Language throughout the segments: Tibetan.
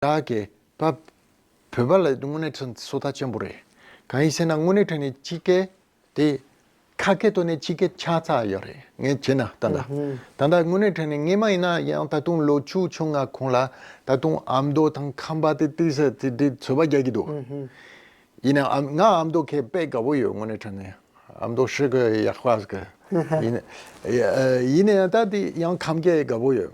བདག་གིས་བབས། བོད་པ་ལ་དངོས་གནས་ཚོད་ལྟ་ཆེན་པོ་རེད། གང་ཡིན་ཟེར་ན་དངོས་གནས་ཁྲོད་ནས་སྤྱི་སྐད་དེ། ཁ་སྐད་ཐོག་ནས་སྤྱི་སྐད་ཆགས་ཚར་ཡོད་རེད་ངས་བྱས་ན་ད་ལྟ། ད་ལྟ་དངོས་གནས་ཁྲོད་ནས་ངས་མ་ཡིན་ན་ཡང་ད་དུང་ལོ་བཅུ་ཆུང་ང་གོང་ལ་ད་དུང་ཨ་མདོ་དང་ཁམས་པ་དེ་ཏི་སེ་ཏི་དེ་ཚོད་པ་རྒྱག་གི་འདུག། ཡིན་ན་ཨ་ང་ཨ་མདོ་ཁས་དཔེ་དགའ་བོ་ཡོད་དངོས་གནས་ཁྲོད་ནས་ཨ་མདོ་ཧྲིལ་གོའི་ཡག་པ་ཟེར། ཡིན་ཡིན་ན་ད་དེ་ཡང་ཁམས་སྐད་དགའ་བོ་ཡོད།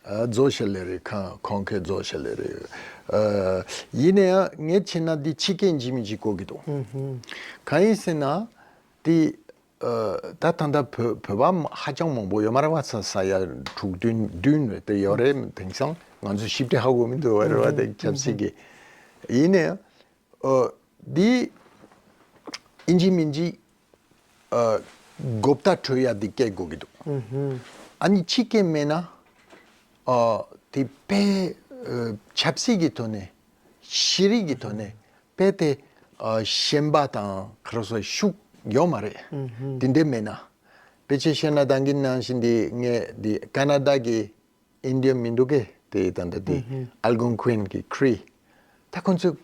རྫོགས་བྱེད་ལས་རེད་ཁང་གོང་ཁའི་རྫོགས་བྱེད་ལས་རེད། ཡིན་ན་ཡང་ངས་བྱས་ན་འདི་ཕྱི་སྐད་འཇིགས་མི་འཇིགས་གོ་གི་འདུག་གང་ཡིན་ཟེར་ན། དེ་ད་ད་ལྟ་བོད་པ་ཧ་ཅང་མང་པོ་ཡོད་མ་རེད་བ་ས་ས་ཡ་དྲུག་བདུན་བདུན་རེད་དེ་ཡོད་རེད་དེང་སང་ང་ཚོ་ཞིབ་ཕྲ་ཧ་གོ་མི་འདུག་བ་རེད་བ་དེ་ཆབ་སྲིད་ཀྱི། ཡིན་ན་ཡང་འདི་ཨིན་ཇིའི་མིང་གཅིག Gupta Troya ཡ་འདི་སྐད་གོ་གི་འདུག་ཨ་ནི་ཕྱི་སྐད་སྨྲས་ན་དེ་པས་ཆབ་སྲིད་ཀྱི་དོན་ནས་ཤེས་རིག་གི་དོན་ནས་པས་དེ་ཞེན་པ་དང་ཁ་རོག་སོགས་ཤུགས་ཡོད་མ་རེད་དེ་འདྲས་སྨྲས་ན་པས་ཆེས་ཤེས་ན་དང་གི་ནང་བཞིན་དེ་ངས་དེ་ཀ་ན་རྡ་ཀྱི India མི་འདུག་གེ་དེ་ད་ལྟ་དེ Algonquin གི Cree ད་ཁོང་ཚོས་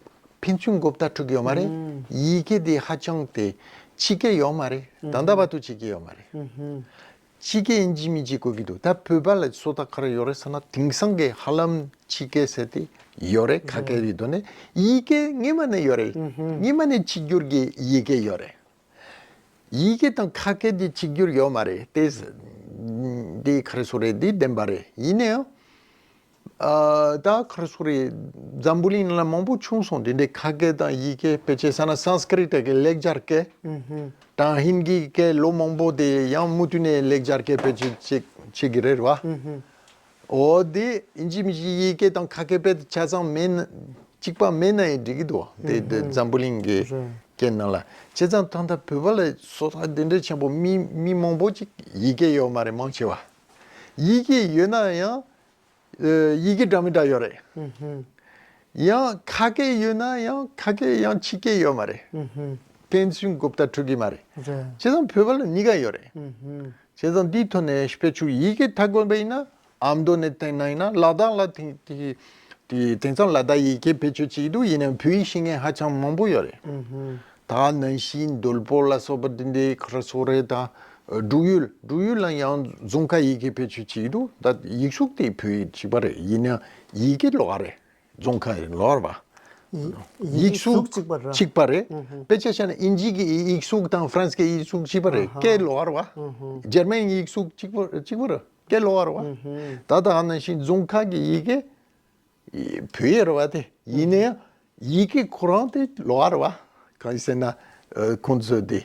ཕན་ཚུན་སྒོ་བརྡ་འཁྲུག་གི་ཡོད་མ་རེད་ཡིག་གེ་དེ་ཧ་ཅང་དེ་ཕྱི་གེ་ཡོད་མ་རེད་ད་ལྟ་བར་དུ་ཕྱི་གེ་ཡོད་མ་རེད། ཕྱི་གེ་ཡིན་གྱི་མིན་གྱི་དགོས་ཀྱི་འདུག་ད་བོད་པ་ལ་སོ་ད་ག་རེ་ཡོད་རེད་ཟེར་ན་དེང་སང་གི་ཧ་ལམ་ཕྱི་གེ་ཟེར་དེ་ཡོད་རེད་ག་གེ་རེ་ཡོད་དོ་ནས་ཡིག་གེ་ངེས་མ་ནས་ཡོད་རེད་ངེས་མ་ནས་ཕྱི་འགྱུར་གྱི་ཡིག་གེ་ཡོད་རེད། ཡི་གེ་དང་ཁ་སྐད་ཀྱི་གཅིག་གྱུར་ཡོད་མ་རེད་དེ། འདི་ཁར་སོ་རེད་འདི་བདེན་པ་རེད་ཡིན་ནའི། ད་ཁར་སོ་རེད། འཛམ་བུ་གླིང་ནང་ལ་མང་པོ་བྱུང་སོང་དེ་འདྲའི་ཁ་སྐད་དང་ཡི་གེ་ཕལ་ཆེར་ས་ན Sanskrit གི་ལེགས་སྦྱར་སྐད། དང་ཧིན་གྱི་སྐད་ལོ་མང་པོ་དེ་ཡང་མུ་མཐུད་ནས་ལེགས་སྦྱར་སྐད་ཕལ་ཆེར་བྱེད་བྱེད་ཀྱི་རེད་བ། ཨོ་དེ་ཨིནཇི་མི་ཤིག་ཡི་གེ་དང་ཁ་སྐད་དཔེ་དེ་ཆ་ཚང་མེད་ན་གཅིག་པ་མེད་ན་ཡི་འགྲིག་གི་འདུག་དེ་དེ་འཛམ་བུ་གླིང་གི་སྐད་ནང་ལ་བྱས་ཙང་ད་ལྟ་བོད་པ་ལ་སོ་ཐར་དེ་འདྲའི་ཆེན་པོ་མི་མི་མང་པོ་ཅིག་ཡི་གེ་ཡོད་མ་རེད་མང་ཆེ་བ་ཡི་གེ་ཡོད་ན་ཡང་ཡི་གེ་འདྲ་མི་འདྲ་ཡོད་རེད། ཡང་ཁ་སྐད་ཡོད་ན་ཡང་ཁ་སྐད་ཡང་ཕྱི་སྐད་ཡོད་མ་རེད། ཕན་ཚུན་གོ་བརྡ་འཕྲོད་གི་མ་རེད། བྱས་ཙང་བོད་པ་ལ་གཉིས་ཀ་ཡོད་རེད། བྱས་ཙང་དེའི་ཐོག་ནས་ཕལ་ཆེར་ཡི་གེ་མཐའ་དགོན་པ་ཡིན་ན་ཨ་མདོ་ནས་དེང་ན་ཡིན་ན་ལ་དྭགས་ལ་དེང་དེང་སང་ལ་དྭགས་ཡི་གེ་ཕལ་ཆེར་གཅིག་འདུག་ཡིན་ནའང་བོད་ཡིག་ཤེས་མཁན་ཧ་ཅང་མང་པོ་ཡོད་རེད། ད་ནན་ཤིས་འདོལ་པོ་ལ་སོགས་པ་དེ་འདྲའི་ཁར་སོགས་རེད་ད། འབྲུག་ཡུལ་འབྲུག་ཡུལ་ལ་ཡང་རྫོང་ཁ་ཡི་གེ་ཕལ་ཆེར་གཅིག་འདུག་ད་ཡིག་གཟུགས་དེ་བོད་ཡིག་གཅིག་པ་རེད་ཡིན་ནའང་ཡི་གེ་ལོགས་རེད་རྫོང་ཁ་རི་ལོར་བ། ཡིག་གཟུགས་གཅིག་པ་རེད། དཔེ་ཆ་ཤར་ན་ཨིན་ཇིའི་གི་ཡིག་གཟུགས་དང་ཧྥ་རན་སི་ཀའི་ཡིག་གཟུགས་གཅིག་པ་རེད་སྐད་ལོར་བ། འཇར་མན་ཡིག་གཟུགས་གཅིག་པོ་གཅིག་པོ་རེད་སྐད་ལོར་བ། ད་ལྟ་ཨ་ན་ཤིང་རྫོང་ཁ་གི་ཡི་གེ་བོད་ཡིག་རེད་བ་དེ་ཡིན་ན་ཡང་ཡི་གེ་ཁོ་རང་དེ་ལོར་བ། གང་ཡིན་ཟེར་ན་ཁོང་ཚོས་དེ་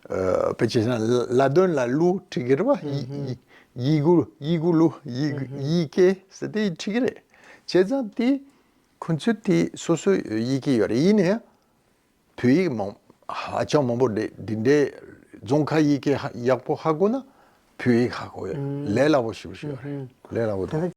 དཔེ་ཆའི་ནང་ལ་དོན་ལ་གླུ་ཁྲིད་ཀྱི་རེད་པ། ཡིད་གུ་ཡིད་གུ་གླུ་ཡིད་ཀྱི་ཟེར་དེ་ཁྲིད་ཀྱི་རེད། བྱས་ཙང་དེ་ཁུ་ཚུར་དེ་སོ་སོ་ཡིད་ཀྱི་ཡོད་རེད་ཡིན་ནའི། བོད་ཡིག་མང་ཧ་ཅང་མང་པོ་རེད་འདི་འདྲའི་རྫོང་ཁ་ཡིག་གི་ཡག་པོ་ཧ་གོ་ན་བོད་ཡིག་ཧ་གོ་ཡོད་ལས་སླ་པོ་ཞིག་ཞུ་ཡོད་རེད་ལས་སླ་པོ་དང།